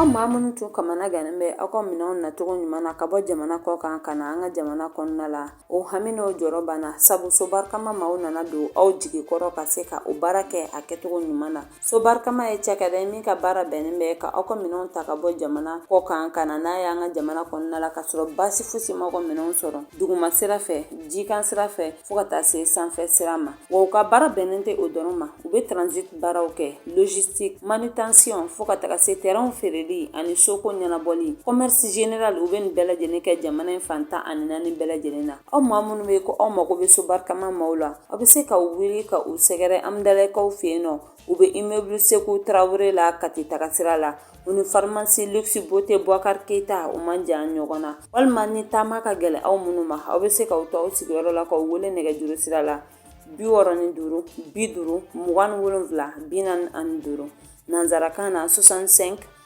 Aw maa minnu tun kamana gannen bɛ aw ka minɛnw nacogo ɲuman na ka bɔ jamana kɔ kan ka na an ka jamana kɔnɔna la o hami n'o jɔrɔ banna sabu so barikama maaw nana don aw jigi kɔrɔ ka se ka o baara kɛ a kɛcogo ɲuman na so barikama ye cakɛda ye min ka baara bɛnnen bɛ ka aw ka minɛnw ta ka bɔ jamana kɔ kan ka na n'a y'an ka jamana kɔnɔna la ka sɔrɔ baasi fosi ma aw ka minɛnw sɔrɔ duguma sira fɛ jikan sira fɛ fɔɔ ka taa se sanfɛ sira ma Wa u ka baara bɛnnen tɛ o dɔrɔn ma u bɛ transit baaraw kɛ logistique manutention fo ka taga se terrainw feereli ani soko ɲɛnabɔli commerce général u bɛ nin bɛɛ lajɛlen kɛ jamana in fan tan ani naani bɛɛ lajɛlen na aw maa minnu bɛ ko aw mago bɛ sobarikama maaw la aw bɛ se ka wuli ka u sɛgɛrɛ Hamdallayekaw fɛ yen nɔ U bɛ immeuble Sekou Traore la Kati tagasira la, u ni pharmacie luxe beauté Boubacar Keita u man jan ɲɔgɔn na, walima ni taama ka gɛlɛn aw minnu ma, aw bɛ se k'aw to aw sigiyɔrɔ la k'u wele nɛgɛjuru sira la 65 50 27 45 nanzarakan na 65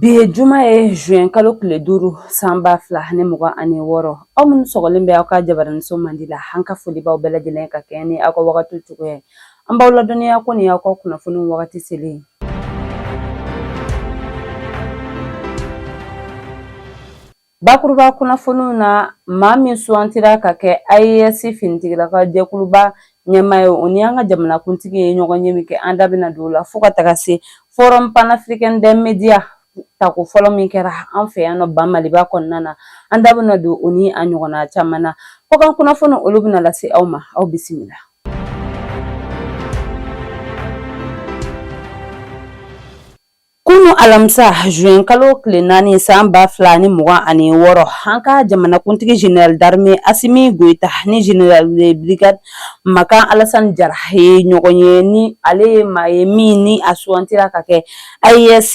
Bi ye juma ye juin kalo tile duuru san ba fila ani mugan ani wɔɔrɔ aw minnu sɔgɔlen bɛ aw ka jabaraninso mandi la an ka foli b'aw bɛɛ lajɛlen ka kɛɲɛ ni aw ka wagatiw cogoya ye an b'aw ladɔnniya ko nin y'aw ka kunnafoni wagati selen ye Bakuruba kunnafoniw na maa min sugantira ka kɛ AES finitigilaka jɛkuluba ɲɛmaa ye o ni an ka jamanakuntigi ye ɲɔgɔnye min kɛ an da bɛna don o la fo ka taga se forum panafricain des médias tako fɔlɔ min kɛra an fɛ yan nɔ ba maliba kɔnɔna na an da bɛna don o ni a ɲɔgɔnna caman na kɔkan kunnafoni olu bɛna lase aw ma aw bisimila Kunun alamisa juin kalo tile naani san ba fila ni mugan ani wɔɔrɔ an ka jamanakuntigi General d'armée Assimi Goïta ni General de brigade Makan Alasani Jara ye ɲɔgɔn ye ni ale ye maa ye min ni a sugantira ka kɛ AES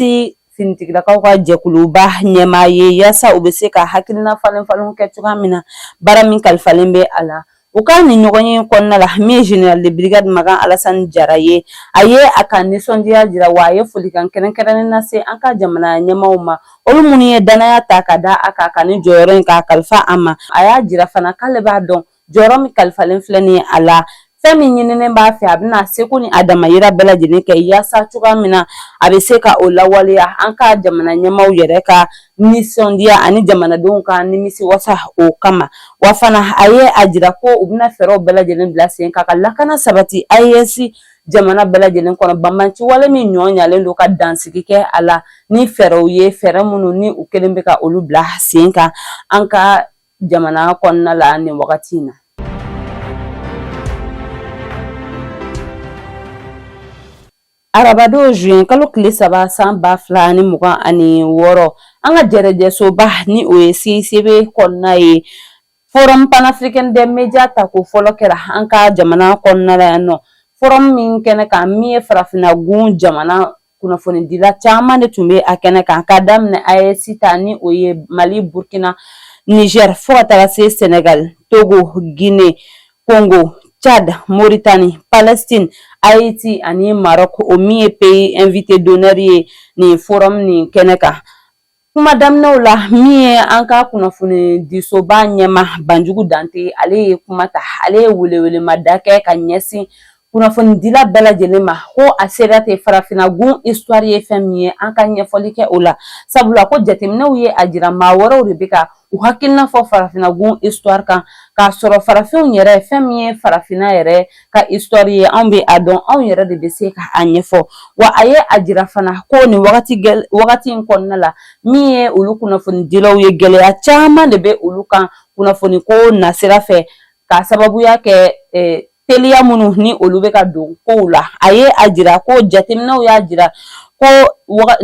finitigilakaw ka jɛkuluba ɲɛmaa ye yaasa u bɛ se ka hakilinafalenfalen kɛ cogoya min na baara min kalifalen bɛ a la U ka nin ɲɔgɔnye kɔnɔna la min ye General de brigade Makan Alasani Jara ye, a ye a ka nisɔndiya jira wa a ye folikan kɛrɛnkɛrɛnnen lase an ka jamana ɲɛmaaw ma, olu minnu ye dannaya ta ka da a kan ka nin jɔyɔrɔ in k'a kalifa a ma. A y'a jira fana k'ale b'a dɔn jɔyɔrɔ min kalifalen filɛ nin ye a la, fɛn min ɲininen b'a fɛ a bɛna a seko ni a damayira bɛɛ lajɛlen kɛ yaasa cogoya min na a bɛ se ka o lawaleya an ka jamana ɲɛmaaw yɛrɛ ka nisɔndiya ani jamanadenw ka nimisi wasa o kama wa fana a ye a jira ko u bɛna fɛɛrɛw bɛɛ lajɛlen bila sen kan ka lakana sabati AES jamana bɛɛ lajɛlen kɔnɔ banbanci wale min ɲɔ ɲalen don ka dansigi kɛ a la ni fɛɛrɛw ye fɛɛrɛ minnu ni u kɛlen bɛ ka olu bila sen kan an ka jamana kɔnɔna la nin wagati in na Arabadon zuɲɛ kalo tile saba san ba fila ni mugan ani wɔɔrɔ an ka jɛrɛjɛsoba ni o ye CICB kɔnɔna ye forum panafricain des médias ta ko fɔlɔ kɛra an ka jamana kɔnɔna la yan nɔ forum min kɛnɛ kan min ye farafinna gun jamana kunnafonidila caman de tun bɛ a kɛnɛ kan ka daminɛ AES ta ni o ye mali burukina nizɛri fo ka taa se sɛnɛgali togo gine Congo, Tchad, Mauritanie, Palestine, Haïti ani Maroc o min ye pays invité d'honneur ye nin forum nin kɛnɛ kan. Kuma daminɛw la min ye an ka kunnafoni disoba ɲɛmaa Banjugu Dante ale ye kuma ta ale ye welewelemada kɛ ka ɲɛsin kunnafonidila bɛɛ lajɛlen ma ko a sera ten farafinna gun histoire ye fɛn min ye an ka ɲɛfɔli kɛ o la sabula ko jateminɛw ye a jira maa wɛrɛw de bɛ ka u hakilina fɔ farafinna gun histoire kan k'a sɔrɔ farafinw yɛrɛ fɛn min ye farafinna yɛrɛ ka histoire ye anw bɛ a dɔn anw yɛrɛ de bɛ se ka a ɲɛfɔ wa a ye a jira fana ko nin wagati in kɔnɔna la min ye olu kunnafonidilaw ye gɛlɛya caman de bɛ olu kan kunnafoni ko nasira fɛ k'a sababuya kɛ eh, teliya minnu ni olu bɛ ka don kow la a ye a jira ko jateminɛw y'a jira ko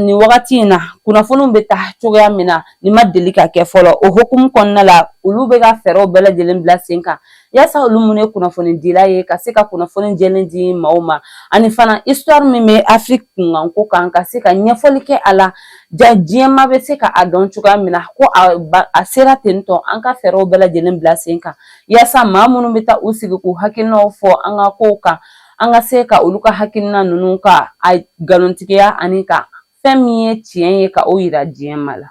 nin wagati in na kunnafoniw bɛ taa cogoya min na nin ma deli ka kɛ fɔlɔ o hokumu kɔnɔna la olu bɛ ka fɛɛrɛw bɛɛ lajɛlen bila sen kan yasa olu minnu ye kunnafonidilaw ye ka se ka kunnafoni jɛlen di maaw ma ani fana histoire min bɛ afiriki kunkanko kan ka se ka ɲɛfɔli kɛ a la ja diɲɛmaa bɛ se ka a dɔn cogoya min na ko a sera ten tɔ an ka fɛɛrɛw bɛɛ lajɛlen bila sen kan yaasa maa minnu bɛ taa u sigi k'u hakilinaw fɔ an ka kow kan an ka se ka olu ka hakilina ninnu ka a nkalontigiya ani ka fɛn min ye tiɲɛ ye ka o yira diɲɛmaa la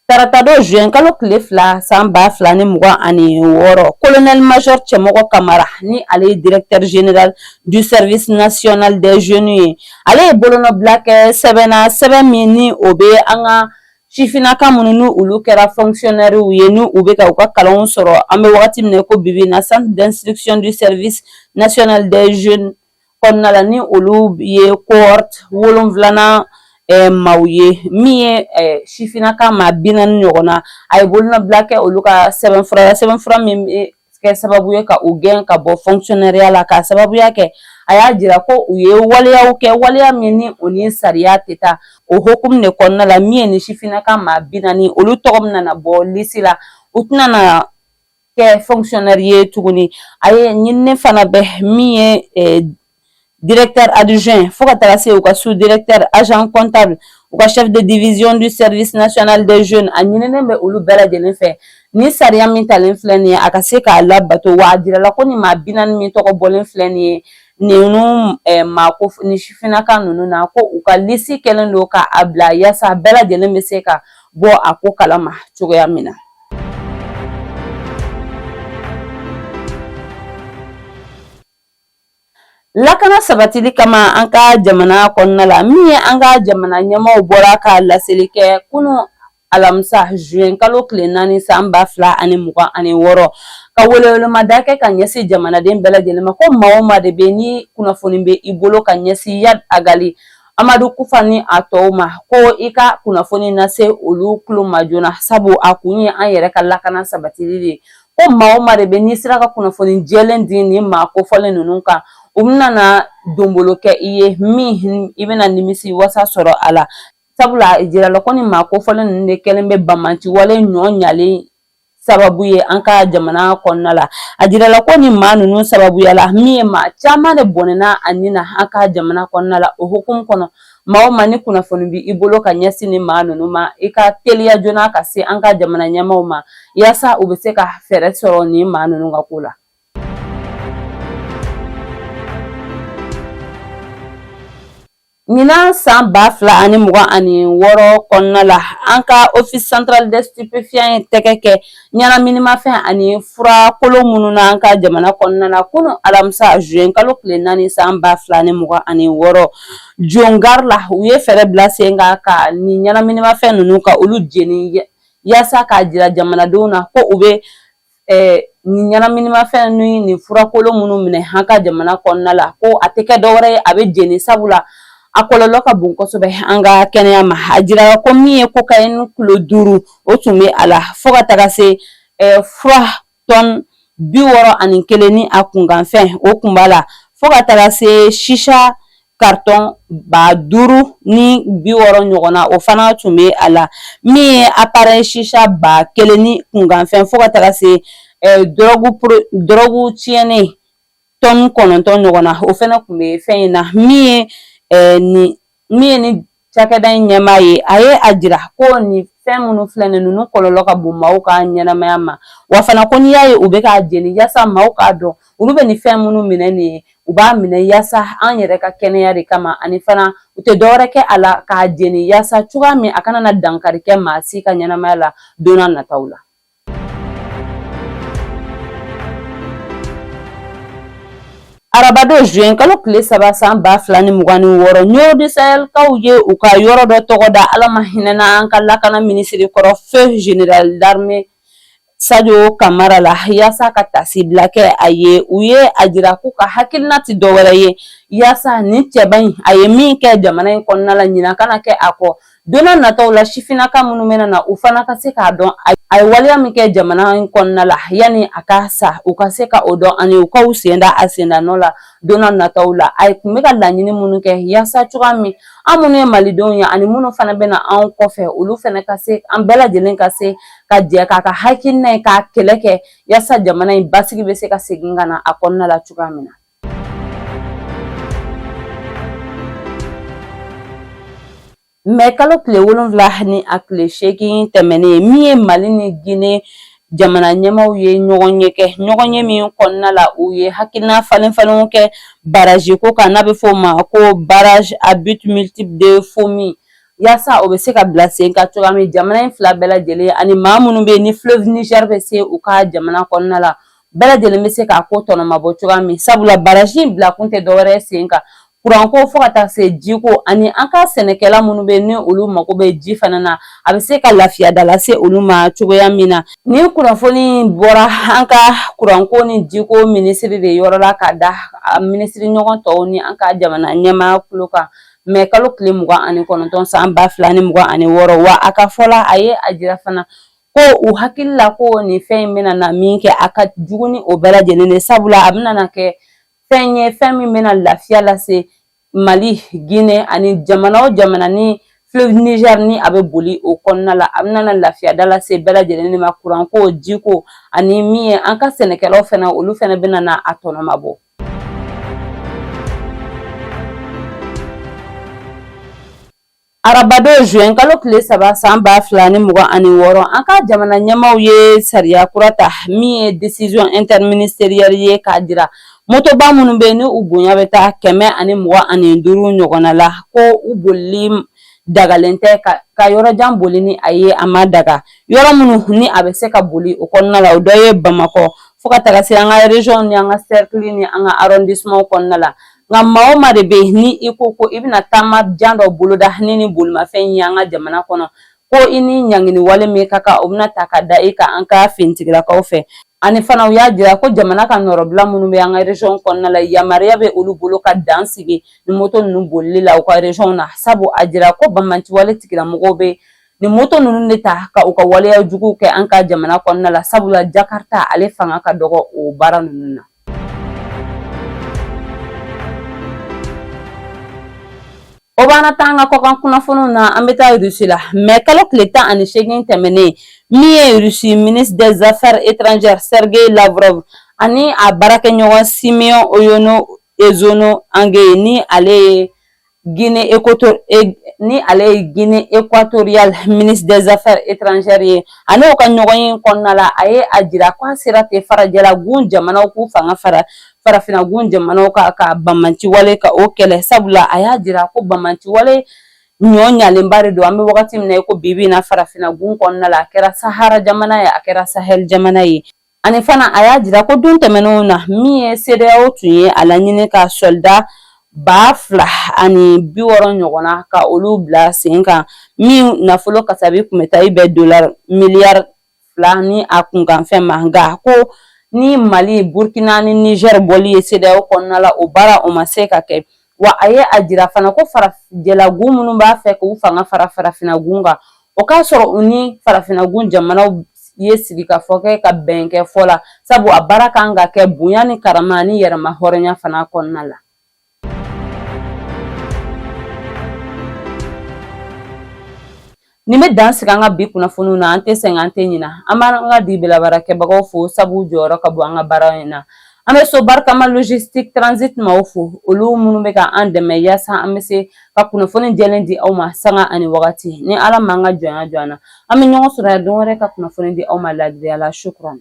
taratadon juin kalo tile fila san ba fila ni mugan ani wɔɔrɔ colonel major cɛmɔgɔ kamara ni ale ye directeur general du service national des jeunes ye ale ye bolonɔbila kɛ sɛbɛn na sɛbɛn min ni o bɛ an ka sifinnaka minnu ni olu kɛra fɔnkisiyɔnɛriw ye ni u bɛ ka u ka kalanw sɔrɔ an bɛ wagati min na ko bibi in na centre d'instruction du service national des jeunes kɔnɔna la ni olu ye cohorte wolonfilanan eh, maaw ye min ye eh, sifinnaka maa bi naani ɲɔgɔn na a ye bolonɔbila kɛ olu ka sɛbɛnfura la sɛbɛnfura min bɛ kɛ sababu ye ka u gɛn ka bɔ fonctionnaireya la k'a sababuya kɛ a y'a jira ko u ye waleyaw kɛ waleya min ni o ni sariya tɛ taa o hokumu de kɔnɔna la min ye ni sifinnaka maa bi naani olu tɔgɔ min nana bɔ lisi la u tɛna na kɛ fonctionnaire ye tuguni a ye ɲinini fana bɛ min ye directeur adjoint fo ka taga se u ka sous directeur agent comptable u ka chef de division du service national des jeunes a ɲininen bɛ olu bɛɛ lajɛlen fɛ ni sariya min talen filɛ nin ye a ka se k'a labato wa a jirala ko nin maa bi naani min tɔgɔ bɔlen filɛ nin ye ninnu eh, maako ni sifinnaka ninnu na ko u ka lisi kɛlen don ka a bila yaasa bɛɛ lajɛlen bɛ se ka bɔ a ko kalama cogoya min na Lakana sabatili kama an ka jamana kɔnɔna la min ye an ka jamana ɲɛmaaw bɔra ka laseli kɛ kunun alamisa zuwɛn kalo tile naani san ba fila ani mugan ani wɔɔrɔ ka welewelemada kɛ ka ɲɛsin jamanaden bɛɛ lajɛlen ma ko maa o maa de bɛ ni kunnafoni bɛ i bolo ka ɲɛsin Iyad Agali Amadu Kufa ni a tɔw ma ko i ka kunnafoni lase olu tulo ma joona sabu a kun ye an yɛrɛ ka lakana sabatili de ye ko maa o maa de bɛ n'i sera ka kunnafoni jɛlen di nin maa kofɔlen ninnu kan u bɛna na donbolo kɛ i ye min i bɛna nimisiwasa sɔrɔ a la sabula a jirala ko ni maa kofɔlen ninnu de kɛlen bɛ banbaanci wale ɲɔ ɲalen sababu ye an ka jamana kɔnɔna la a jirala ko ni maa ninnu sababuya la min ye maa caman de bɔnɛna a ni na an ka jamana kɔnɔna la o hukumu kɔnɔ Maa o maa ni kunnafoni bɛ i bolo ka ɲɛsin nin maa ninnu ma i ka teliya joona ka se an ka jamana ɲɛmaaw ma yaasa u bɛ se ka fɛɛrɛ sɔrɔ nin maa ninnu ka ko la. Ɲinan san ba fila ani mugan ani wɔɔrɔ kɔnɔna la an ka office central des stupéfiants ye tɛgɛ kɛ ɲɛnaminimafɛn ani furakolon minnu na an ka jamana kɔnɔna la kunu alamisa zuwɛn kalo tile naani san ba fila ni mugan ani wɔɔrɔ Jo gari la u ye fɛɛrɛ bila sen kan ka nin ɲɛnaminimafɛn ninnu ka olu jeni yaasa k'a jira jamanadenw na ko u bɛ nin ɲɛnaminimafɛn ni nin furakolon minnu minɛ an ka jamana kɔnɔna la ko a tɛ kɛ dɔwɛrɛ ye a bɛ jeni sabula a kɔlɔlɔ ka bon kosɛbɛ an ka kɛnɛya ma a jirala ko min ye cocaïne kilo duuru o tun bɛ a la fo ka taga se fura tɔn bi wɔɔrɔ ani kelen ni a kunkanfɛn o kun b'a la fo ka taga se shisha karitɔn ba duuru ni bi wɔɔrɔ ɲɔgɔn na o fana tun bɛ a la min ye aparɛyi shisha ba kelen ni kunkanfɛn fo ka taga se dɔrɔgu tiɲɛnen tɔni kɔnɔntɔn ɲɔgɔn na o fana tun bɛ fɛn in na min ye nin min ye nin cakɛda in ɲɛmaa ye a ye a jira ko nin fɛn minnu filɛ nin ninnu kɔlɔlɔ ka bon maaw ka ɲɛnamaya ma wa fana ko n'i y'a ye u bɛ k'a jeni yaasa maaw k'a dɔn olu bɛ nin fɛn minnu minɛ nin ye u b'a minɛ yaasa an yɛrɛ ka kɛnɛya de kama ani fana u tɛ dɔwɛrɛ kɛ a la k'a jeni yaasa cogoya min a kana na dankari kɛ maa si ka ɲɛnamaya la don n'a nataw la Arabadon zuwɛn kalo tile saba san ba fila ni mugan ni wɔɔrɔ Ɲɔrɔ du Sahel kaw ye u ka yɔrɔ dɔ tɔgɔ da ala ma hinɛna an ka lakana minisiri kɔrɔ feu général d'armée Sajo Kamara la yaasa ka tasibila kɛ a ye u ye a jira k'u ka hakilina tɛ dɔwɛrɛ ye yaasa nin cɛba in a ye min kɛ jamana in kɔnɔna la ɲina kana kɛ a kɔ Don n'a nataw la sifinnaka minnu bɛna na u fana ka se k'a dɔn a ye waleya min kɛ jamana in kɔnɔna la yanni a ka sa u ka se ka o dɔn ani u k'u sen da a sendanɔ la don n'a nataw la a tun bɛ ka laɲini minnu kɛ yaasa cogoya min an minnu ye malidenw ye ani minnu fana bɛ na anw kɔfɛ olu fana ka se an bɛɛ lajɛlen ka se ka jɛ k'a ka hakilina in k'a kɛlɛ kɛ yaasa jamana in basigi bɛ se ka segin ka na a kɔnɔna la cogoya min na mɛ kalo tile wolonwula ni a tile seegin tɛmɛnen min ye mali ni gine jamana ɲɛmaaw ye ɲɔgɔnye kɛ ɲɔgɔnye min kɔnɔna la u ye hakilina falen falenw kɛ baraji ko kan n'a bɛ fɔ o ma ko barrage à but multiple de fomi yaasa o bɛ se ka bila sen kan cogoya min jamana in fila bɛɛ lajɛlen ani maa minnu bɛ yen ni fleuve Niger bɛ se u ka jamana kɔnɔna la bɛɛ lajɛlen bɛ se k'a ko tɔnɔmabɔ cogoya min sabula baraji in bila kun tɛ dɔwɛrɛ sen kan kuranko fo ka taa se jiko ani an ka sɛnɛkɛla minnu bɛ yen ni olu mago bɛ ji fana na a bɛ se ka lafiya da lase olu ma cogoya min na nin kunnafoni bɔra an ka kuranko ni jiko minisiri de yɔrɔ la k'a da a minisiri ɲɔgɔn tɔw ni an ka jamana ɲɛmaa kulo kan mɛ kalo tile mugan ani kɔnɔntɔn san ba fila ni mugan ani wɔɔrɔ wa a ka fɔ la a ye a jira fana ko u hakili la ko nin fɛn in bɛna na min kɛ a ka jugu ni o bɛɛ lajɛlen de sabula a bɛna na kɛ fɛn ye fɛn min bɛna lafiya lase mali gine ani jamana o jamana ni fleuve niger ni a bɛ boli o kɔnɔna la a bɛna na lafiya da lase bɛɛ lajɛlen de ma kuranko jiko ani min ye an ka sɛnɛkɛlaw fana olu fana bɛna na a tɔnɔmabɔ Arabadon zuwɛn kalo tile saba san ba fila ni mugan ani wɔɔrɔ an ka jamana ɲɛmaaw ye sariya kura ta min ye décision interministérielle ye k'a jira motoba minnu bɛ yen ni u bonya bɛ taa kɛmɛ ani mugan ani duuru ɲɔgɔnna la ko u bolili dagalen tɛ ka yɔrɔjan boli ni a ye a ma daga yɔrɔ minnu ni a bɛ se ka boli o kɔnɔna la o dɔ ye bamakɔ fo ka taga se an ka région ni an ka sɛrikili ni an ka arɔndisimanw kɔnɔna la nka maa o maa de bɛ yen ni i ko ko i bɛna taama jan dɔ boloda ni nin bolimafɛn in ye an ka jamana kɔnɔ ko i ni ɲangini wale min ka kan o bɛna ta ka da i kan an ka finitigilakaw fɛ ani fana u y'a jira ko jamana ka nɔrɔbila minnu bɛ an ka resɔn kɔnɔna la yamaruya bɛ olu bolo ka dan sigi nin moto ninnu bolili la u ka resɔnw na sabu a jira ko banbanciwale tigilamɔgɔw bɛ nin moto ninnu de ta ka u ka waleya juguw kɛ an ka jamana kɔnɔna la sabula jakarita ale fanga ka dɔgɔ o baara ninnu na O b'an ta an ka kɔkan kunnafoniw na an bɛ taa irisi la mɛ kalo tile tan ani seegin tɛmɛnen min ye irisi ministre des affaires étrangères Sergueï Lavrov ani a baarakɛɲɔgɔn Simeon Oyono Esono Angue ni ale ye Guinée équato ni ale ye Guinée équatoriale ministre des affaires étrangères ye ani u ka ɲɔgɔn ye kɔnɔna la a ye a jira ko a sera ten farajɛlagun jamanaw k'u fanga fara farafinagun jamanaw kan ka banbanciwale ka o kɛlɛ sabula a y'a jira ko banbanciwale ɲɔ ɲalenba de don an bɛ wagati min na i ko bi bi in na farafinagun kɔnɔna la a kɛra sahara jamana ye a kɛra sahɛli jamana ye Ani fana a y'a jira ko don tɛmɛnenw na min ye CEDEAO tun ye a laɲini ka sɔlida ba fila ani bi wɔɔrɔ ɲɔgɔnna ka olu bila sen kan min nafolo kasabi tun bɛ taa i bɛn dola miliyari fila ni a kunkanfɛn ma nka ko ni mali burkina ni niger bɔli ye CEDEAO kɔnɔna la o baara o ma se ka kɛ wa a ye a jira fana ko farajɛlagun minnu b'a fɛ k'u fanga fara farafinagun kan o k'a sɔrɔ u ni farafinagun jamanaw ye sigikafɔ kɛ ka bɛn kɛ fɔ la sabu a baara kan ka kɛ bonya ni karama ani yɛrɛmahɔrɔnya fana kɔnɔna la Nin bɛ dan sigi an ka bi kunnafoniw na an tɛ sɛgɛn an tɛ ɲina an b'an ka dibi la baarakɛbagaw fo sabu jɔyɔrɔ ka bon an ka baara in na an bɛ so barikama logistique transit maaw fo olu minnu bɛ ka an dɛmɛ yaasa an bɛ se ka kunnafoni jɛlen di aw ma sanga ani wagati ni ala m'an ka jɔnya jɔ an na an bɛ ɲɔgɔn sɔrɔ yan don wɛrɛ ka kunnafoni di aw ma laadiriya la shukran